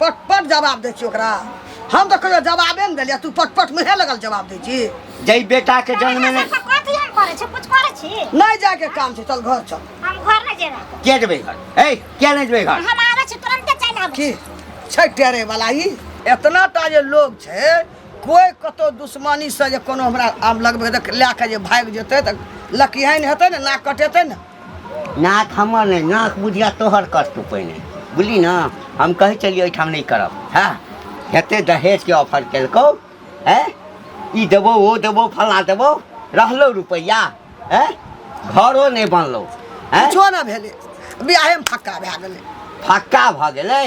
पटपट जवाब दै छी ओकरा हम तऽ कहियो जवाबे ने देलियै तू पटपट मुहे लगल जवाब दै छी जय बेटा के जन्म में सब कथी हम करै छी कुछ करै छी नहि जायके काम छै चल घर चल हम घर नहि जेबै क्या जबे घर ए क्या नहीं जबे घर हम आबै छी तुरंते चलि आबै की छै टेरे वाला ई एतना टा जे लोग छै कोई कतौ दुश्मनी से जे कोनो हमरा आम लगबै देख लए कऽ जे भागि जेतै तऽ लकिहन हेतै ने नाक कटेतै ने नाक हमर नहि नाक बुझिया तोहर करतू पहिने बुझली ने हम कहै छलियै ओहिठाम नहि करब हँ हेते दहेजके ऑफर केलकौ है ई देबौ ओ देबौ फला देबौ रहलौ रुपैआ है घरो नहि बनलौ है किछो ने भेलै बियाहेमे फक्का भए गेलै फक्का भऽ गेलै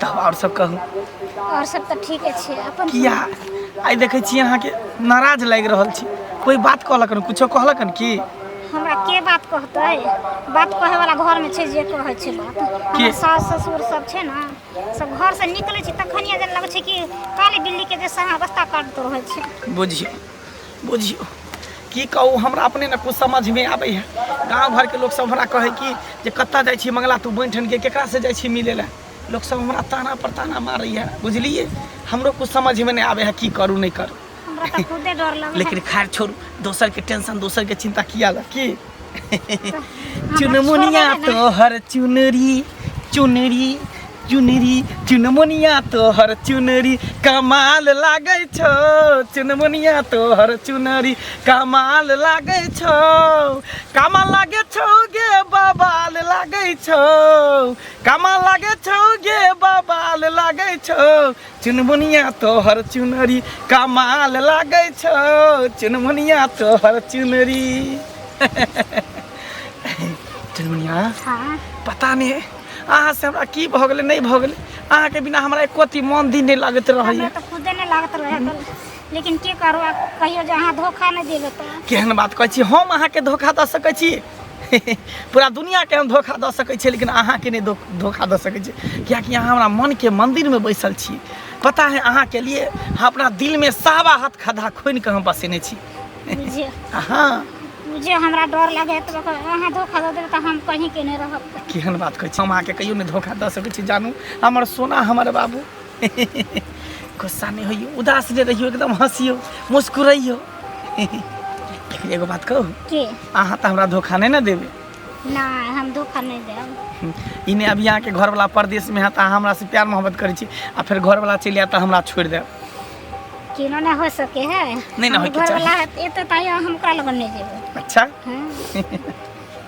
तब आओर सब कहू और सब तऽ ठीके छै अपन किया आइ देखै छी अहाँके नाराज लागि रहल छी कोई बात कहलक हन कुछो कहलक हन की हमरा के बात कहतै बात कहे वाला घर में छै जे कहै छै बात हमर सास ससुर सब छै ना सब घर से निकलै छै तखनिए जे लगै छै कि काली बिल्ली के जैसा अवस्था करतो रहै छै बुझियौ बुझियो की कहू हमरा अपने ने कुछ समझ में आबे है गांव घर के लोग सब हमरा कहे कि जे कत्ता जाय छी मंगला तू बन ठन के केकरा से जाय छी मिले ले लोग सब हमरा ताना पर ताना मारे है बुझलिए हमरो कुछ समझ में नहीं आबे है की करू नहीं करू हमरा तो खुदे डर लगे लेकिन खैर छोड़ू दोसर के टेंशन दोसर के चिंता किया ला की चुनमुनिया तोहर चुनरी चुनरी चुनरी चुनमुनिया तोहर चुनरी कमाल लागै छौ चुनमुनिया तोहर चुनरी कमाल लागै छौ कमाल लागै छौ गे बबाल लागै छौ कमाल लागै छौ गे बबाल लागै छौ चुनमुनिया तोहर चुनरी कमाल लागे छो चुनमुनिया तोहर चुनरी चुनमुनिया हाँ पता नहीं अहाँ से हमरा की भऽ गेलै नहि भऽ गेलै अहाँके बिना हमरा एको अथी मन दिन नहि लागैत हमरा रहैया तो खुदे नहीं लागत रहे तो लेकिन की करो अब कहियो जहाँ धोखा नहीं देवे तो केहन बात कहै छी हम अहाँके धोखा दऽ सकै छी पूरा दुनियाके हम धोखा दऽ सकै छियै लेकिन अहाँके नहि धो- धोखा दऽ सकै छियै किएकि अहाँ हमरा मनके मन्दिरमे बैसल छी पता है अहाँके लिए हम अपना दिलमे सावा हाथ खद्धा खोनि कऽ हम बसेने छी बुझियो अहाँ बुझियो हमरा डर लगे तो अहाँ धोखा दऽ देबै तऽ हम कहीं के नहि रहब केहन बात कहै छी हम अहाँके कहियो नहि धोखा दऽ सकै छी जानू हमर सोना हमर बाबू गुस्सा नहीं होइयो उदास नहीं रहियो एकदम हंसियो मुस्कुराइयो लेकिन एगो बात कहू के अहाँ तो हमरा धोखा नहीं ना देबे ना हम धोखा नहीं देब इन्हें अब यहाँ के घर वाला परदेश में है तो अहाँ हमरा से प्यार मोहब्बत करे छी आ फिर घर वाला चलि आयत तो हमरा छोड़ देब केनो ना हो सके है नहीं ना होइके घर वाला एते ताई हम ओकरा लगन नहीं जेबे अच्छा हाँ।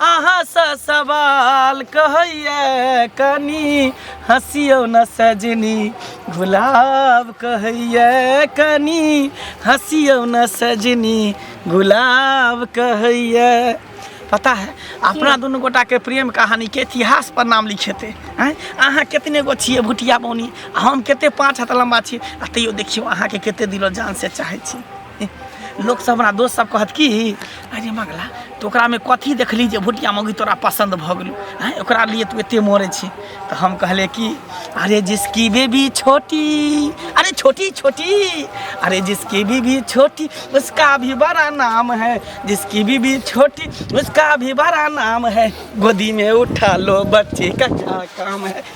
अहाँसँ सवाल कहैए कनी हँसियौ न सजनी गुलाब कहैए कनी हँसियौ न सजनी गुलाब कहैए पता है अपना दुनू गोटा के प्रेम कहानी के इतिहास पर नाम लिखेते हैं अहाँ कितने गो छिए भुटिया बौनी आ हम कते पाँच हाथ लम्बा छी आ तैयो देखियौ अहाँके कते दिलो जान से चाहै छी लोकसभ हमरा दोस्तसभ कहत कि अरे मगला तऽ ओकरामे कथी देखली जे भुटिया मौगी तोरा पसन्द भऽ गेलौ आँय ओकरा लिए तू एतेक मरै छी तऽ हम कहलिए कि अरे जिसकी बेबी छोटी अरे छोटी छोटी अरे जिसकी बीबी छोटी उसका भी बड़ा नाम है जिसकी बीबी छोटी उसका भी बड़ा नाम है गोदी में उठा लो बच्चे का क्या काम है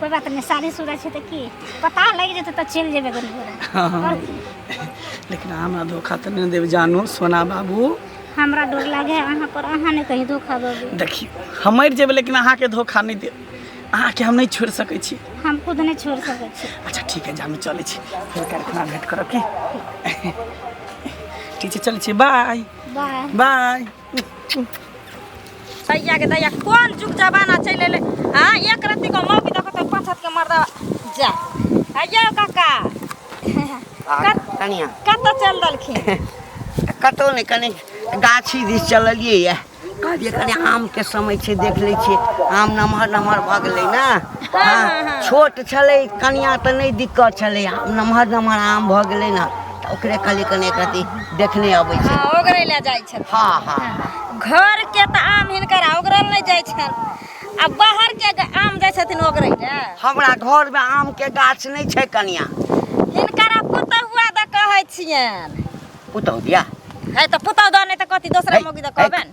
कोई बात नहीं शादी शुदा छे तो की पता लग जेते तो चल जेबे गन पूरा हाँ। लेकिन हमरा धोखा तो नहीं देव जानू सोना बाबू हमरा डर लागे अहाँ पर अहाँ ने कहीं धोखा देबे देखी हम मर जेबे लेकिन अहाँ के धोखा नहीं दे अहाँ के हम नहीं छोड़ सके छी हम खुद नहीं छोड़ सके छी अच्छा ठीक है जानू चले छी फिर कारखाना भेंट करब की ठीक है चले छी बाय बाय बाय तैया के तैया कोन जुग जमाना चलि एलै आ एक रत्ती को मौकी दऽ कऽ तऽ पाँच हाथ के मर्दा जा अय्यो काका आ कनिया कतऽ चल देलखिन कतौ नहि कनि गाछी दिस चललियै यऽ कहलियै कनि आमके समय छै देख लै छियै आम नमहर नमहर भऽ गेलै ने हँ छोट छलै कनिया तऽ नहि दिक्कत छलै आम नमहर नमहर आम भऽ गेलै ने ओकरे खाली कने एक रति देखने अबै छै हाँ, ओकरे ले जाइ छथिन हाँ हाँ घर के तऽ आम हिनकर आ ओकरा नहि जाइ छनि आ बाहर के ग- आम जाइ छथिन ओकरे ले हमरा घर में आम के गाछ नहीं छै कनिया हिनकर पुतहुआ दऽ कहै छियनि पुतौ दिया है तऽ पुतहु दऽ नहि तऽ कथी दोसरा मौगी दऽ कहबनि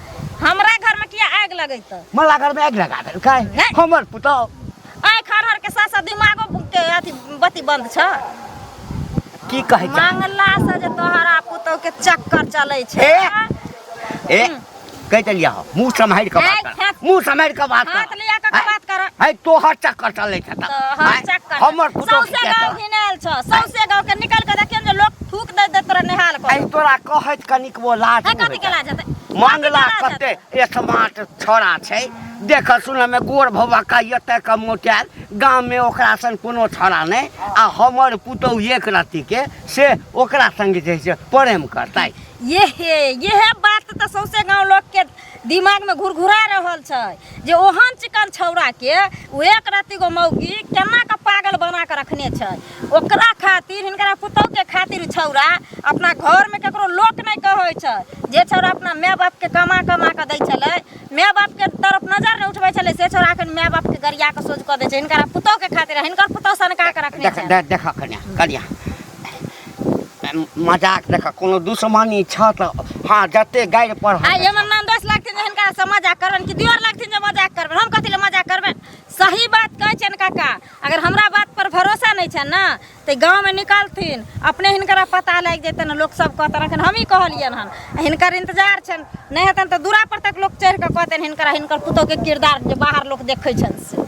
हमरा घर में किया आग लगे तो मला घर में आग लगा दे काय हमर पुतो आय खर हर के साथ साथ दिमागो के अथी बत्ती बंद छ की कहे छ मंगला से जे तोहरा पुतो के चक्कर चले छ ए ए कह चलिया हो मुंह संभाल के बात कर मुंह संभाल के बात कर हाथ लिया के बात कर है तोहर चक्कर चले छ त तोहर चक्कर हमर पुतो के गांव घिनाल छ सौसे गांव के निकल के देखियन जे लोग थूक दे देत रहे नेहाल को आई तोरा कहत कनी वो लाज है कथी के लाज हेतै मंगला कते स्मार्ट छोरा छै देख सुन में गोर भवा का एते का मोटाल गांव में ओकरा सन कोनो छोरा नहीं आ हमर पुतौ एक राति के से ओकरा संग जे छै प्रेम करतै ये हे ये हे बात तो सौसे गांव लोग के दिमागमे घुरघुरा रहल छै जे ओहन चिकन छौड़ाके ओ एक रत्तीगो मौगी केना कऽ पागल बना कऽ रखने छै ओकरा खातिर हिनकरा पुतौहके खातिर छौड़ा अपना घरमे ककरो लोक नहि कहै छै जे छौड़ा अपना माय बापके कमा कमा कऽ दै छलै माय बापके तरफ नजर नहि उठबै छलै से छौड़ा एखन माय बापके गरिया कऽ सोझ कऽ दै छै हिनकरा पुतौहके खातिर हिनकर पुतौह सनका कऽ रखने छै देखा कनिया कनिया मजाक देखा कोनो दुश्मनी छ त हां जते गाइड पर आ ये मन नाम दोस्त लगथिन जे हिनका से मजाक करबन कि दियोर लगथिन जे मजाक करबन हम कथि ले मजाक करबन सही बात कहै छन काका अगर हमरा बात पर भरोसा नै छन ना ते गांव में निकालथिन अपने हिनकरा पता लाग जेतन लोग सब कहतन अखन हम ही कहलियन हन हिनकर इंतजार छन नै हेतन त दूरा पर तक लोग चढ़ के कहतन हिनकरा हिनकर पुतो के किरदार जे बाहर लोग देखै छन से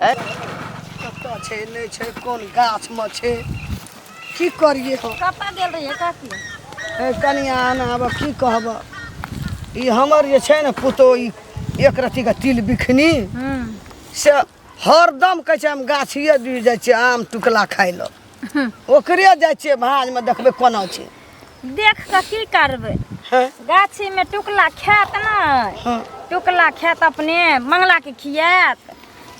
कतऽ छै नहि छै कोन गाछमे छै की करिए हम कतऽ गेल रहिए काकी हे कनिया आना आब की कहब ई हमर जे छै ने पुतो ई एक रत्तीके तिल बिखनी से हरदम कहै छै हम गाछिए जुड़ि जाइ छियै आम टुकला खाइ लए ओकरे जाइ छियै भाँजमे देखबै कोना छै देख कऽ की करबै हँ गाछीमे टुकला खायत ने हँ टुकला खायत अपने मंगलाके खियात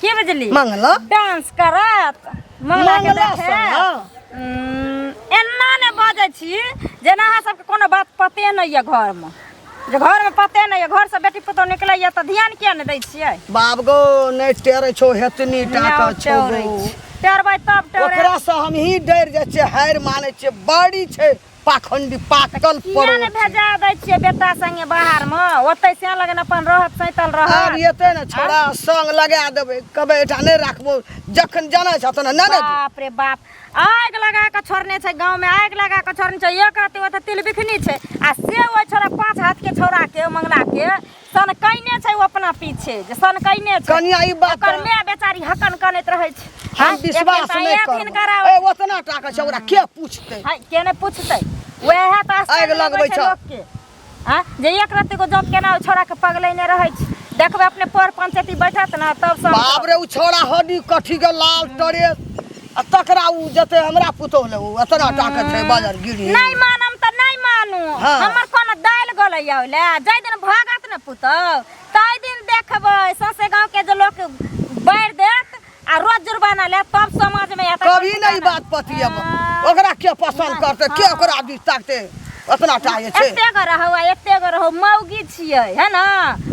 की बुझली मंगला डांस करत मंगलाके मंगला देखत सोना उम्म, एना ने बजै छी जेना अहाँ सबके कोनो बात पते नहि यऽ घरमे जे घरमे पते नहि यऽ घरसँ बेटी पुतहु निकलैए तऽ ध्यान किया नहि दै छियै बाप गो नहि टेरै छौ हेतनी टा नहि के छौ टेरै गो। छी। टेरबै तब टेरै ओकरा से हमही डर जाइ छियै हारि मानै छियै बड़ी छै पाखंडी पाकल किया नहि पड़ो छै। भेजा दै छियै बेटा संगे बाहरमे ओतै से लगन अपन रहत सैतल आब रहत एतै ने छोड़ा संग लगा देबै कहबै एहिठाम नहि राखबो जखन जानै छह तहन नहि ने बाप रे बाप आगि लगा कऽ छोड़ने छै गाँवमे आगि लगा कऽ छोड़ने छै एक रत्ती ओतऽ तिलबिखनी छै आ से ओहि छोड़ा पाँच हाथके छौड़ाके मंगलाके सनकैने छै ओ अपना पीछे जे सनकैने छै कनिया ई बात ओकर माय बेचारी हकन कनैत रहै छै हम हाँ, विश्वास नहि करबै ओतना टाका छै ओकरा के पूछतै के नहि पूछतै वएह तऽ आगि लगबै छै लोकके आ जे एक रत्ती को जॉब केना छोड़ा के पगलेने रहै छी देखबै अपने पर पंचायती बैठत ना तब सब बाप रे उ छोड़ा हड्डी कठी के लाल टरे आ तकरा उ जते हमरा पुतोह ले उ अतरा टाके छै बाजार गिरी नहीं मानम त नहीं मानू हाँ। हमर कोन दाल गलै आउले जै दिन भागत न पुतौ तै दिन देखबै ससे गांव के जे लोग बैर देत आ रोज जुर्माना ले तब समाज में आता कभी नहीं बात पतियब ओकरा के पसंद करते के ओकरा भी ताकते अपना चाहे छे एते गो रहो आ एते गो रहो मौगी छिए है ना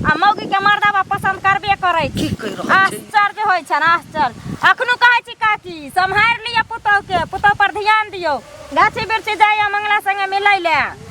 आ मौगी के मर्दावा पसंद करबे करै छी की कहि रहल छै आश्चर्य होइ छन आश्चर्य अखनो कहै छी काकी सम्हार लिअ पुतहु के पुतहु पर ध्यान दियौ गाछी बिरछी जाइए मंगला संगे मिलै ले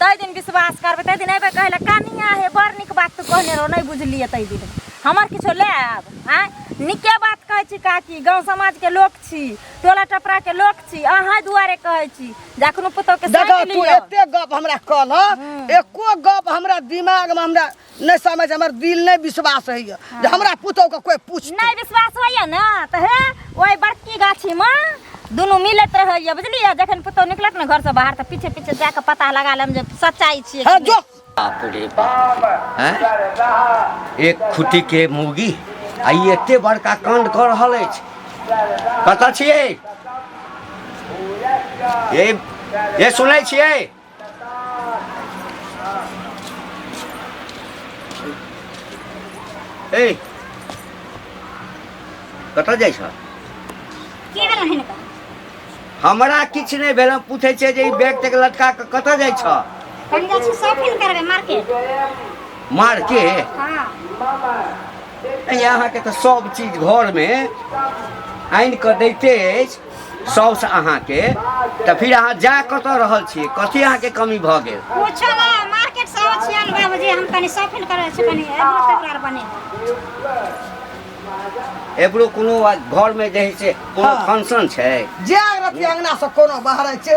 तै दिन विश्वास करबै तै दिन अयबै कहै लए कनिया हे बड़ नीक बात तू कहने रहो नहि बुझलियै तै दिन हमर किछो लए आयब आँय नीके बात कहै छी काकी गाँव समाजके लोक छी टोला टपराके लोक छी अहाँ दुआरे कहै छी जे एखनो पुतौहके देखो साइड तू लिअ एते गप हमरा कहलह एको गप हमरा दिमाग में हमरा नहि समझ हमर दिल नहि विश्वास होइए जे हमरा पुतहुके कोइ पूछ नहि विश्वास होइए ने तऽ हे ओहि बड़की गाछीमे दुनू मिलैत रहैए बुझलियै जखन पुतहु निकलत ने घरसँ बाहर तऽ पीछे पीछे जाके पता लगा लेम जे सच्चाइ छियै हाँ जो बाप रे बाप हैं? एक खुटी के मुर्गी आ ई एते बड़का कांड कऽ रहल अछि कतऽ छियै ए ए सुनै छियै ए कतऽ जाइ छ की भेल हन का हमरा किछु नहि भेल हम पूछै छियै जे ई बैग तैग लटका कऽ कतऽ जाइ छ हम जाइ छी शॉपिंग करबै मार्केट मार के हाँ अहाँके तऽ सब चीज घरमे आनि कऽ दैते अछि साउस अहाँके तऽ फिर अहाँ जा कतऽ रहल छी कथी अहाँके कमी भऽ गेल कुछ ना मार्केट से आबै छियै नौ बजे हम कनी शॉपिंग करै छी कनी एब्रो पेपर बने एबरो कोनो घरमे जे है से कोनो हाँ। फंक्शन छै जे अगरती अंगना से कोनो बाहर छै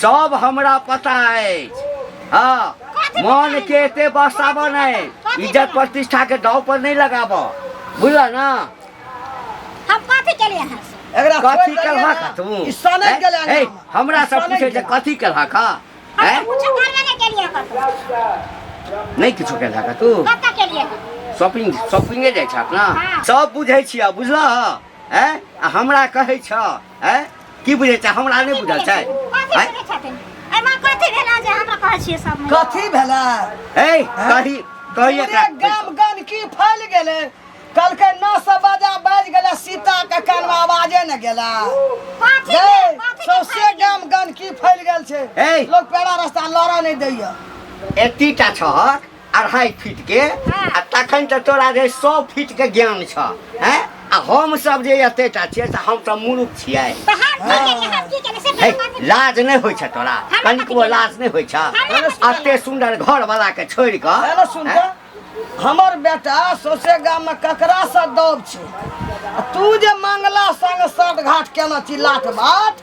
सब हमरा पता अछि हाँ मन के एते बसाबऽ नहीं इज्जत प्रतिष्ठा के दाव पर नहीं लगाबऽ बुझला ना हम कथी के लिए हैं से? एकरा कथी कर हाका तू ई सनक हैं? गेलै हैं? ना। हमरा से सनक पूछे जे गेलै। कथी कर हाका हम हैं तो कुछ करबे नहीं के लिए कतौ नहीं किछो कर हाका तू कतौ के लिए हैं? शॉपिंग शॉपिंगे जाइ छ अपना हाँ। सब बुझै छिया बुझलह हैं आ हमरा कहै छ हैं की बुझे छै हमरा नहि बुझल छै कथी हैं? करै छथिन एहिमे कथी भेला जे हमरा कहै छियै सब महिला? कथी भेला ए कही कही पूरे एकरा गाम गंदकी फैल गेलै कहलकै नौ सौ बजा बाजि गेलै सीता के कानमे आवाजे ने गेला कथी गे, भेल? कथी के सौंसे फायदा? गाम गंदकी फैल गेल छै ए। लोग पेड़ा रास्ता लड़ा नहि दैया एतीटा छहक अढ़ाई फीट के हाँ। आ तखन तऽ तोरा रे सौ फीट के ज्ञान छ हैं आ हम सब जे एतेटा छियै से हम तऽ मूर्ख छियै तो हम की केलिए हम की केलिए से हे, बात लाज नहि होइ छ तोरा हमरा कनिको कथी लाज नहि होइ छ हमरा कथी अते सुन्दर घर वाला के छोड़ि कऽ हेलो सुन हैं? त हमर बेटा सौसे गाम में ककरा से दौब छै आ तू जे मंगला संग साँठ घाट केना छी लाट बाट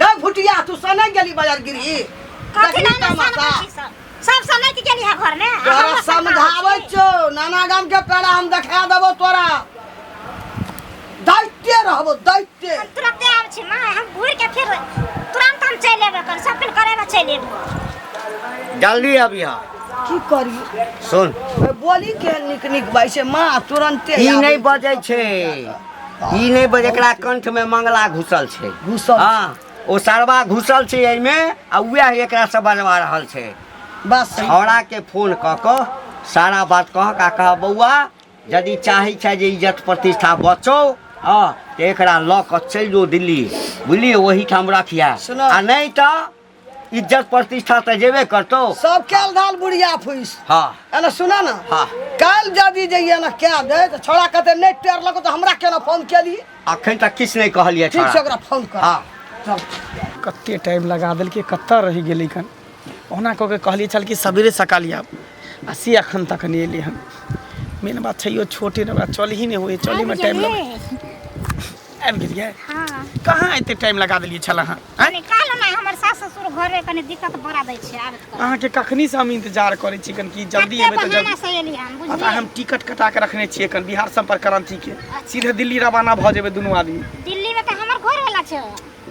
ना घुटिया तू सने गेली बाजार गिरी कथी ना ना सन कथी सब सब समय के गेली है घर में आ तोरा हमर सन समझाबै कहाँ छो नाना गाम के पेड़ा हम देखा देबो तोरा दैते रहबो दैते हम तुरंते आब छी माय हम घूर के फिर तुरंत हम चल लेबे कर सब कुछ करे में चल लेबे जल्दी अभी हाँ की करी सुन बोली के निक निक बाई से माँ तुरंते ई आबै। नहीं बजै छै ई नहि बज एकरा कंठ में मंगला घुसल छै घुसल हाँ ओ सरवा घुसल छै एहि में आ वएह एकरा से बजवा रहल छै बस छौड़ा के फोन क क सारा बात कह का कह बौआ यदि चाहे छै जे इज्जत प्रतिष्ठा बचो हाँ तो एकरा ल क चल जो दिल्ली बुझलिए वही ठाम रखिया सुनो। आ नहीं तो इज्जत प्रतिष्ठा तऽ जेबे करतो सब कैल धाल बुढ़िया फुस हाँ एने सुना ना हाँ। काल जदी जइया ना क्या दे तो छोड़ा कहते नहीं टेर लगो तो हमरा केना फोन केली अखन तक किछ नहीं कहलिए ठीक से ओकरा फोन कर हाँ चल कते टाइम लगा देलकै कतऽ रहि गेलै कन ओना कऽ के कहलिए छल कि सबेरे सकाल आब आ से अखन तक नहि एलै हन मेन बात छै यो छोटे ने ओकरा चलही नहि होइ चलहीमे टाइम लगै आबि गेलियै हाँ कहाँ एते टाइम लगा देलियै छल अहाँ आँय? कनी काल ना हमर सास ससुर घरे कनी दिक्कत बड़ा दै छै आबत कर अहाँके कखनी से हम इंतजार करै छी कन कि जल्दी एबै तऽ बहाना जल्दी से एली हम पता बुझलियै हम टिकट कटा के रखने छियै कन बिहार संपर्क क्रांति के सीधे दिल्ली रवाना भऽ जेबै दुनू आदमी दिल्ली में तो हमर घर वाला छै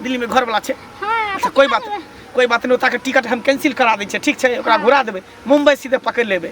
दिल्ली में घर वाला छै हाँ अच्छा कोई बात कोई बात नहीं ओतऽ के टिकट हम कैंसिल करा दै छियै ठीक छै ओकरा घुरा देबै मुंबई सीधे पकड़ि लेबै